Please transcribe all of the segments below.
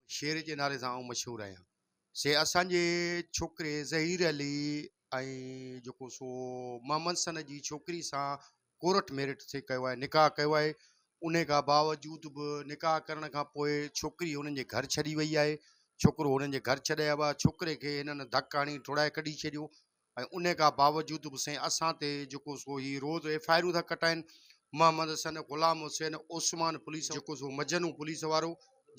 شير جي نالي سان آئون مشهور آهيان. سي اسان جي ڇوڪري ظهير علي ۽ جيڪو سو محمد سند جي ڇوڪري سان ڪورٽ ميرٽ سي ڪيو آهي، نڪاح ڪيو آهي، انهي کان باوجود به نڪاح ڪرڻ کان پوء ڇوڪري هنن جي گهر ڇڏي وئي آهي، ڇوڪرو هنن جي گهر ڇڏي آيو آهي، ڇوڪري کي هنن ڌڪ هڻي ٽوڙائي ڪڍي ڇڏيو، ۽ انهي کا باوجود به سائين اسان تي جيڪو سو هي روز ايف آء آرون ٿا ڪٽائين محمد حسن غلام حسين عثمان پوليس جيڪو سو مجنون پوليس وارو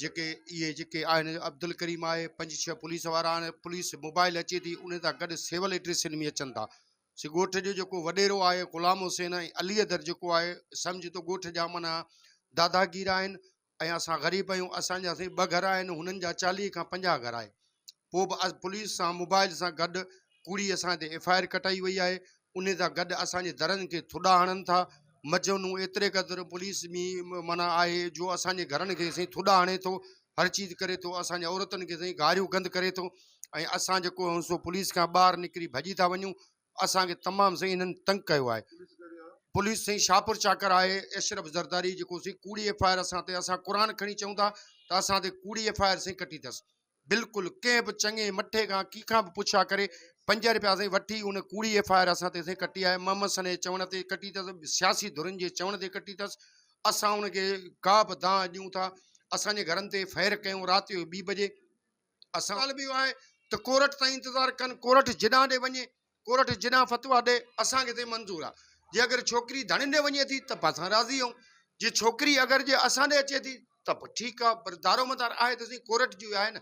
جيڪي اهي جيڪي آهن عبدالڪريم آهي پنج ڇهه پوليس وارا آهن پوليس موبائل اچي ٿي انهي سان گڏ سول ايڊريسن ۾ اچن ٿا سي ڳوٺ جو جيڪو وڏيرو آهي غلام حسين ۽ علي حيدر جيڪو آهي سمجهه ته ڳوٺ جا معنيٰ داداگير آهن ۽ اسان غريب آهيون، اسان جا سائين ٻه گهر آهن، هنن جا چاليهه کان پنجاهه گهر آهي، پوء به پوليس سان موبائيل سان گڏ ڪوڙي اسان تي ايف آء آر ڪٽائي وئي آهي، انهي سان گڏ اسان جي درن کي ٿڏا هڻن ٿا، مجنون ايتري قدر پوليس ۾ معنيٰ آهي جو اسان جي گهرن کي سائين ٿڏا هڻي ٿو، هر چيز ڪري ٿو، اسان جي عورتن کي سائين گاريون گند ڪري ٿو ۽ اسان جيڪو آهيون سو پوليس کان ٻاهر نڪري ڀڄي ٿا وڃون، اسان کي تمام سائين انهن تنگ ڪيو آهي پوليس سائين شاهپور چاڪر آهي اشرف زرداري جيڪو سائين ڪوڙي ايف آء آر اسان تي اسان قرآن کڻي چئون ٿا ته اسان تي ڪوڙي ايف آء آر سائين ڪٽي اٿس بلڪل ڪنهن به چڱي مٺي کان ڪي کان به پڇا ڪري پنج رپيا سائين وٺي ان ڪوڙي ايف آء آر اسان تي سائين ڪٽي آهي محمد سنه جي چوڻ تي ڪٽي اٿس سياسي ڌرين جي چوڻ تي ڪٽي اٿس اسان ان کي ڪا به دانهن ڏيون ٿا اسان جي گهرن تي فائر ڪيون رات جو ٻي بجي اسان حال به اهو آهي ته ڪورٽ تائين انتظار ڪن ڪورٽ جيڏانهن ڏي وڃي ڪورٽ جيڏانهن فتويٰ ڏي اسان کي تي منظور آهي جي اگر ڇوڪري ڌڻين ڏي وڃي ٿي ته به اسان راضي آهيون جي ڇوڪري اگر جي اسان ڏي اچي ٿي ته به ٺيڪ آهي پر دارومدار آهي ته سهي ڪورٽ جو آهي نه